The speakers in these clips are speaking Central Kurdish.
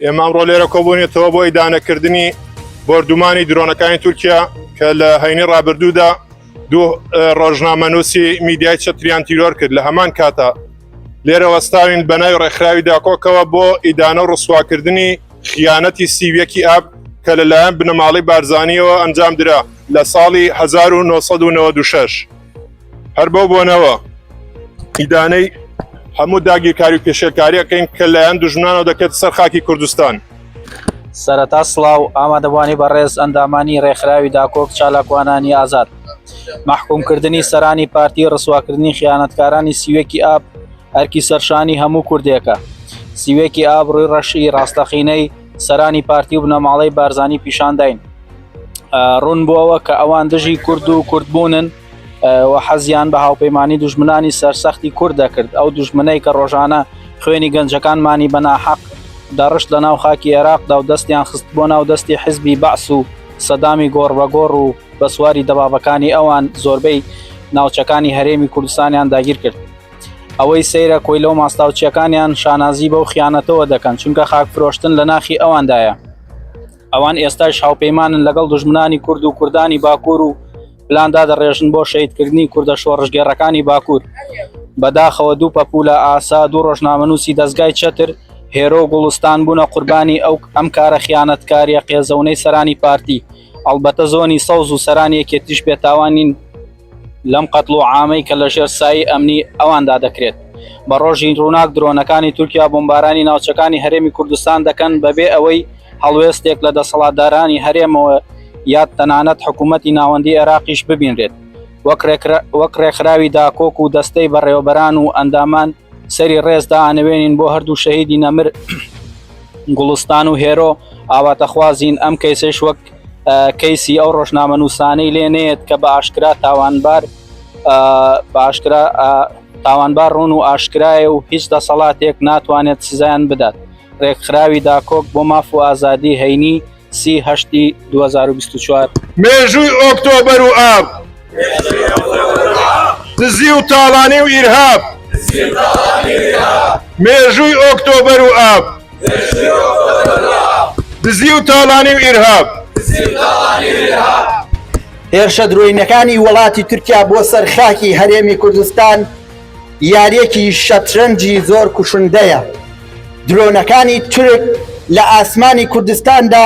ئێمە ئەمڕۆ لێرە کۆبوونێتەوە بۆ ئیدانەکردنی بۆردومانی درۆنەکانی تورکیا کە لە هەینی ڕابردوودا دوو ڕۆژنامەنووسی میدیای چەتریان تیرۆر کرد لە هەمان کاتا لێرە وەستاوین بەناوی ڕێکخراوی داکۆکەوە بۆ ئیدانە و ڕسواکردنی خیانەتی سیویەکی ئاب کە لەلایەن بنەماڵی بارزانانیەوە ئەنجام درا لە ساڵی 1996. هەر بەو بۆنەوە ئیدانەی هەموو داگیرکاری و پێشێلکاریەکەین کە لایەن دژمنانەوە دەکرێت سەر خاکی کوردستان. سەرەتا سڵاو ئامادەبوانی بەڕێز ئەندامانی ڕێکخراوی داکۆک چالاکوانانی ئازاد مححکومکردنی سەرانی پارتی ڕسواکردنی خیانەتکارانی سیوێکی ئاب ئەرکی سەرشانی هەموو کوردێکە سیوێکی ئاب ڕووی ڕەشی ڕاستەقینەی سەرانی پارتی و بنەماڵەی بارزانی پیشانداین ڕوون بووەوە کە ئەوان دژی کورد و کوردبوونن و و حەزیان بە هاوپەیمانی دوژمنانی سەرسەختی کورد دەکرد ئەو دوژمنەی کە ڕۆژانە خوێنی گەنجەکانمانی بەناحەق دەڕشت لە ناو خاکی عێراقدا و دەستیان خست بۆ ناو دەستی حزبی بەعس و سەدامی گۆڕ بەگۆڕ و بە سواری دەبابەکانی ئەوان زۆربەی ناوچەکانی هەرێمی کوردستانیان داگیر کرد ئەوەی سەیرە کۆیلە و ماستاوچیەکانیان شانازی بەو خیانەتەوە دەکەن چونکە خاک فرۆشتن لە ناخی ئەواندایە ئەوان ئێستاش هاوپەیمانن لەگەڵ دوژمنانی کورد و کوردانی باکوور و پلاندا دەڕێژن بۆ شەیدکردنی کوردە شۆڕشگێڕەکانی باکوور بەداخەوە دوو پەپولە ئاسا دوو ڕۆژنامەنووسی دەستگای چەتر هێرۆ و گوڵستان بوونە قوربانی ئەو ئەم کارە خیانەتکاریە قێزەونەی سەرانی پارتی ئەڵبەتە زۆنی سەوز و سەرانی یەکێتیش بێتاوانین لەم قەتڵ و عامەی کە لەژێر سایەی ئەمنی ئەواندا دەکرێت، بە ڕۆژی ڕووناک درۆنەکانی تورکیا بۆمبارانی ناوچەکانی هەرێمی کوردستان دەکەن بەبێ ئەوەی هەڵوێستێک لە دەسەڵاتدارانی هەرێمەوە یاد تەنانەت حکوومەتی ناوەندی عێراقیش ببینرێت وەک ڕێکخراوی داکۆک و دەستەی بەڕێوەبەران و ئەندامان سەری ڕێز دائەنەوێنین بۆ هەردوو شەهیدی نەمر گوڵستان و هێرۆ ئاواتەخوازین ئەم کەیسەیش وەک کەیسی ئەو ڕۆژنامەنووسانەی لێ نێت کە بە ئاشکرا تاوانبار باشکرا تاوانبار ڕوون و ئاشکرایە و هیچ دەسەڵاتێک ناتوانێت سزایان بدات ڕێکخراوی داکۆک بۆ ماف و ئازادی هەینی سیهشتی 2024 مێژووی ئۆکتۆبەر و ئاب. دزی و تاڵانی و ئیرهاب مێژووی ئۆکتۆبەر و ئاب دزی و تاڵانی و ئیرهاب. هێرشە درۆینەکانی وڵاتی تورکیا بۆ سەر خاکی هەرێمی کوردستان یاریەکی شەترەنجی زۆر کوشندەیە درۆنەکانی تورک لە ئاسمانی کوردستاندا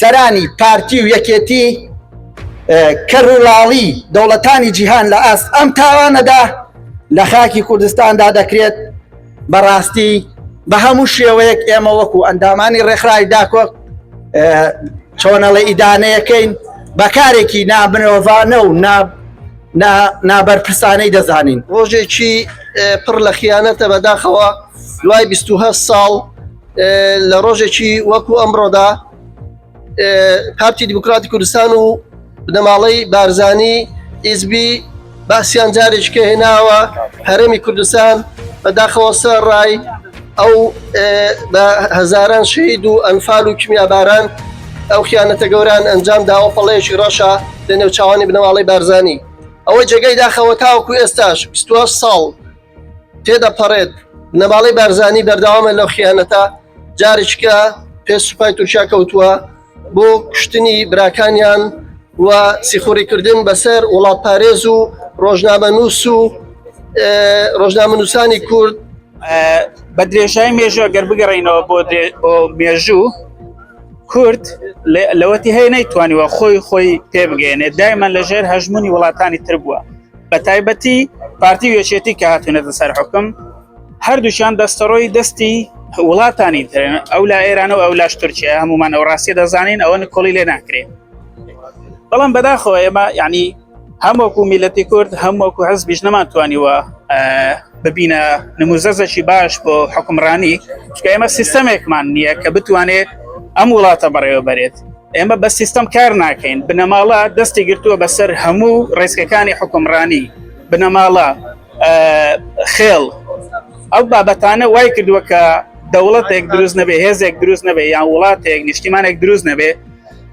سەرانی پارتی و یەکێتی کەڕوڵاڵی دەوڵەتانی جیهان لە ئاست ئەم تاوانەدا لە خاکی کوردستاندا دەکرێت بەڕاستی بە هەموو شێوەیەک ئێمە وەکو ئەندامانی ڕێکخراوی داکۆ چۆنەڵە ئیدانەیەکەین بەکارێکی نابنەوەڤانە و نابەرپرسانەی دەزانین ڕۆژێکی پڕ لە خیانەتە بەداخەوە دوای 20 ساڵ لە ڕۆژێکی وەکو ئەمڕۆدا پارتی دیموکراتی کوردستان و بنەماڵەی بارزانی ئیزبی باسییان جارێککە هێناوە هەرێمی کوردستان بەداخەوە سەر ڕای ئەو بە هەزاران شەید و ئەنفال و کیمیاباران ئەو خیانەتە گەوران ئەنجام داوە پەڵەیەکی ڕەشە لە نێوچوانی بنەواڵی بارزانانی ئەوەی جێگەی داخەوە تاوەکو ئێستاش 20 ساڵ تێدەپەڕێت، بنەماڵەی بارزانی بەردەوامە لەو خیانەتە، جارێکیکە پێ سوپای تورکیا کەوتووە بۆ کوشتنی براکانیان و سیخوڕیکردن بەسەر وڵاتپارێز و ڕۆژنامەنووس و ڕۆژنامەنووسانی کورد بە درێژای مێژوە گەر بگەڕینەوە بۆ مێژوو کورد لەوەتی هەیە نەیتوانیوە خۆی خۆی پێبگەێنێت دایمە لەژێر هەژمونی وڵاتانی تر بووە بە تایبەتی پارتی و یەکێتی کە هاتوونەتە سەر حکم هەردووشان دەستەڕۆی دەستی وڵاتانی ترن ئەو لا ئێران و ئەو لاش تورکیا هەمومان ئەو ڕاستیە دەزانین ئەوە نکۆڵی لێ ناکرێت بەڵام بەداخۆ ئێمە یعنی هەموەکو میلەتی کورد هەموەکو حەز بیش نەمانتوانیوە ببینە نموزەزەکی باش بۆ حکمڕانی چکە ئێمە سیستەمێکمان نییە کە بتوانێت ئەم وڵاتە بەڕێوە بەرێت ئێمە بە سیستم کار ناکەین بنەماڵە دەستی گرتووە بەسەر هەموو ڕێسکەکانی حکومڕانی بنەماڵە خێڵ ئەو بابەتانە وای کردووە کە دەوڵەتێک دروست نەبێ هێزێک دروست نەبێ یان وڵاتێک نیشتیمانێک دروست نەبێ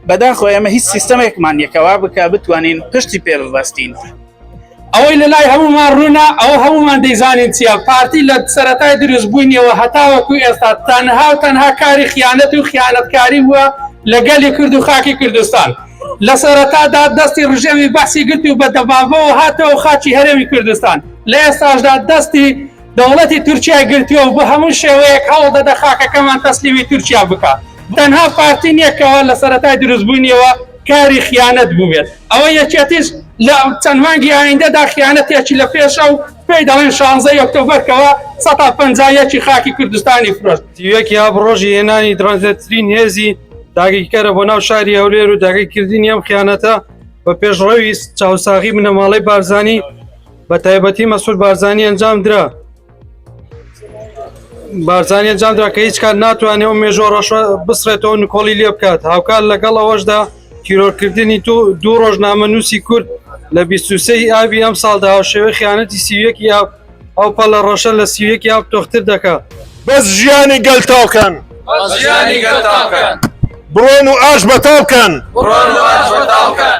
بەداخۆ ئێمە هیچ سیستمێکمان یەکەوا بکە بتوانین پشتی پێ ببەستین ئەوەی لەلای هەموومان ڕوونە، ئەوە هەموومان دەیزانین چییە، پارتی لە سەرەتای دروستبوونیەوە هەتاوەکو ئێستا تەنها و تەنها کاری خیانەت و خیانەتکاری بووە لە گەلی کورد و خاکی کوردستان. لە سەرەتادا دەستی ڕژێمی بەعسی گرت و بە دەبابەوە هاتەوە خاکی هەرێمی کوردستان، لە ئێستاشدا دەستی. دەوڵەتی تورکیای گرتووە و بە هەموو شێوەیەک هەوڵ دەدە خاکەکەمان تەسلیمی تورکیا بکا. تەنها پارتی نیە کەوا لە سەرەتای دروستبوونیەوە کاری خیانەت بووبێت. ئەوە یەکێتیش لە چەند مانگی ئایندەدا خیانەتێکی لە پێشە و پێی دەڵێن شانزەی ئۆکتۆبەر کەوا سەتا پەنجا یەکی خاکی کوردستانی فرۆشت. سی و یەک ئاب ڕۆژی هێنانی درەنگترین هێزی داگیرکەرە بۆ ناو شاری هەولێر و داگیرکردنی ئەم خیانەتە بە پێشڕەوی چاوساغی بنەماڵەی بارزانی، بە تایبەتی مەسول بارزانانی ئەنجام درا بارزانانی ئەنجام درا کە هیچ کات ناتوانێت و مێژۆ ڕەشە بسرێتەوە نکۆڵی لێ بکات هاوکات لەگەڵ ئەوەشدا تیرۆرکردنی تو دوو ڕۆژنامە نووسی کورد لە 23 ئابی ئەم ساڵدا هاوشێوەی خیانەتی سیویەکی ئاب ئەو پەڵە ڕەشە لە سیویەکی ئاب تۆختر دەکە بەس ژیانی گەل تاوکەن بڕۆن و ئاش بەتاوکەن بڕۆن و ئاش بەتاوکەن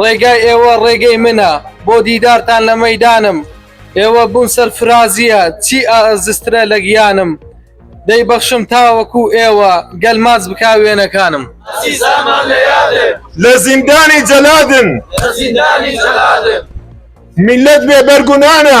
ڕێگای ئێوە ڕێگەی منە بۆ دیدارتان لە مەیدانم ئێوە بوون سەرفرازییە چی ئاززترە لە گیانم دەی بەخشم تاوەکو ئێوە گەل ماچ بکا وێنەکانم لە زیندانی جەلادن میللەت بێ بەرگونانە.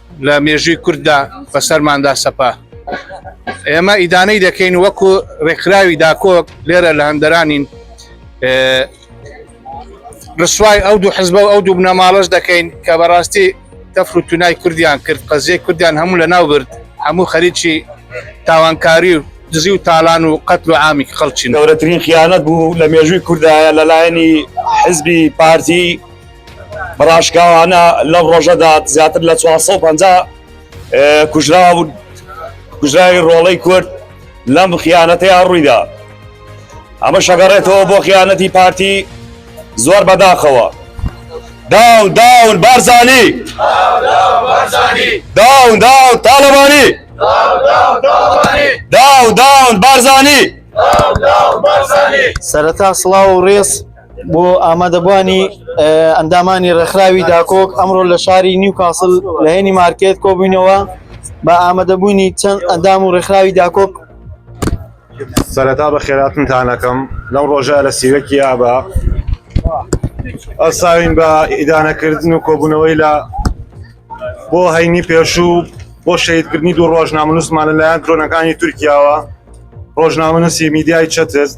لە مێژووی کورددا بەسەرماندا سەپا. ئێمە ئیدانەی دەکەین وەکو ڕێکخراوی داکۆک لێرە لە هەندەرانین ڕسوای ئەو دوو حزب و ئەو دوو بنەماڵەش دەکەین کە بەڕاستی تەفر و تونای کوردیان کرد قەزیە کوردیان هەموو لە ناو برد هەموو خەریکی تاوانکاری و دزی و تالان و قەتل و عامی خەڵچین گەورەترین خیانەت بوو لە مێژووی کوردایە لەلایەنی حزبی پارتی بەڕاشکاوانە لەم ڕۆژەدا زیاتر لە 450 کوژراون کوژراوی ڕۆڵەی کورد لەم خیانەتەیان ڕوویدا ئەمە شەگەڕێتەوە بۆ خیانەتی پارتی زۆر بەداخەوە داون داون بارزانی داون داون تاالبانی داون داون بارزانی سەرەتا سڵاو و ڕێز بۆ ئامادەبوانی ئەندامانی ڕێکخراوی داکۆک ئەمڕۆ لە شاری نیوکاسل لە هێنی مارکێت کۆبووینەوە بە ئامادەبوونی چەند ئەندام و ڕێکخراوی داکۆک سەرەتا بە خێراتنتانەکەم لەم ڕۆژە لە سیوەکی یابە ئەساوین بە ئیدانەکردن و کۆبوونەوەی لە بۆ هەینی پێشوو بۆ شەیدکردنی دوو ڕۆژنامەنووسمان لەلایەن درۆنەکانی تورکیاوە ڕۆژنامەنووسی میدیای چەتست